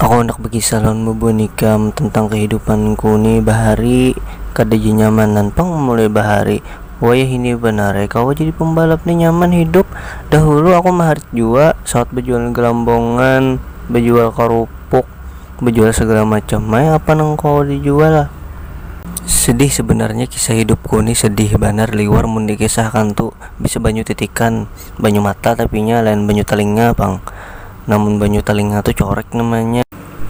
Aku handak bakisah lawan babua nikam tentang kahidupanku ni bahari kada ja nyaman nan pang mulai bahari wayah ini banar ai kawa jadi pambalap ni nyaman hidup dahulu aku maharit jua sawat bajual galambongan bajual karupuk bajual sagala macam ai apa nang kawa dijual sedih sebenarnya kisah hidupku ni sedih banar liwar mun dikisahkan tu. bisa banyu titikan banyu mata tapi nya lain banyu talinga pang nah mun banyu talinga tu corek namanya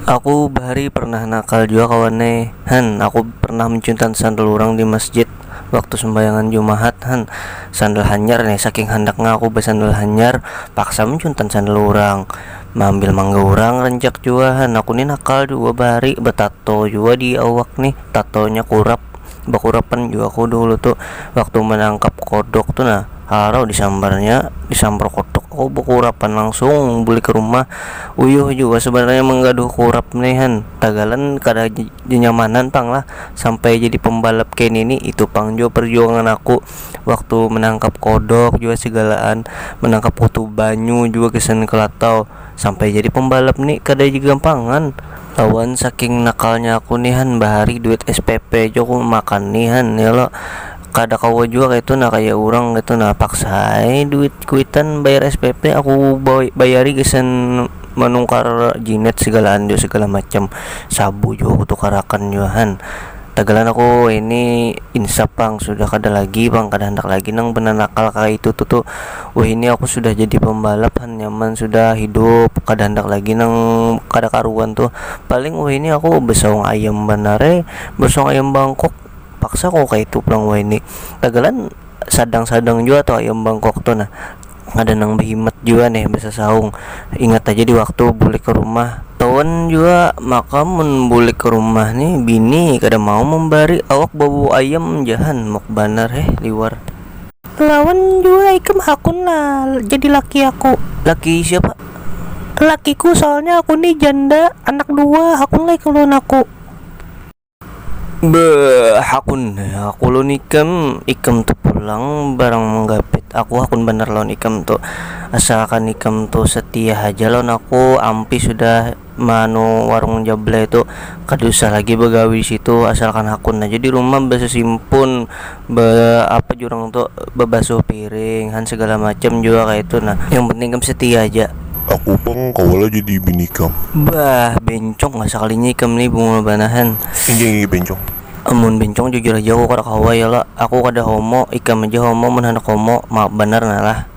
aku bahari pernah nakal jua kawan ai han aku pernah menciuntan sandal urang di masjid waktu sembahyangan jumahat han sandal hanyar nih saking handak nya aku besandal hanyar paksa menciuntan sandal urang meambil mangga urang rancak jua han aku nih nakal jua bahari betato jua di awak nih tato nya kurap. bakurapan jua aku dahulu tu waktu manangkap kodok tu nah halau disambarnya disambar kodok aku bakurapan langsung bulik ka rumah uyuh jua sebenarnya manggaduh kurap ni kan tagalan kada nyanyamanan pang lah sampai jadi pambalap kaya nini itu pang jua perjuangan aku waktu manangkap kodok jua segalaan manangkap utuh banyu jua gasan kalatau. Sampai jadi pembalap ni kada ja gampangan. Lawan saking nakalnya aku ni han bahari duit SPP ja aku makan ni han ya lo. Kada kawa jua kaitu nah kaya urang kaitu nah paksa ai duit kuitan bayar SPP aku bayari gasan manukar jinet segalaan jua segala macam sabu jua aku tukarakan jua han. Tagalan aku ini insap pang sudah kada lagi pang kada handak lagi nang benanakal kaya itu tu tu wahini aku sudah jadi pambalap han nyaman sudah hidup kada handak lagi nang kada karuan tu paling wahini aku besaung ayam banar ai besaung ayam bangkok paksa ku kaya itu pulang wahini tagalan. sadang-sadang jua tuh ayam bangkok tuh nah kada nang behimat jua nih besasaung ingat haja di waktu bulik ke rumah tawan jua maka mun bulik ke rumah nih bini kada mau mambari awak bau-bau ayam ja han muk banar heh liwar. Lawan jua ikam hakun lah jadi laki aku. Laki siapa? Lakiku soalnya aku nih janda anak dua hakun lah ikam lawan aku. Beuh hakun aku lawan ikam, ikam tu pulang barang manggapit aku hakun banar lawan ikam tu, asalkan ikam tu setia haja lawan aku, ampih sudah meanu warung jablay tu, kada usah lagi bagawi disitu, asalkan hakun haja dirumah besesimpun be apa jurang tu bebasuh piring han segala macam jua kaya itu nah yang penting ikam setia aja. Aku pang kawa lah jadi bini ikam. Bah bencong lah sekalinya ikam ni bungul banar han. Inggih inggih bencong. Amun bencong jujur aja aku kada kawa ya lah, aku kada homo, ikam aja homo mun handak homo, maaf banar nah lah.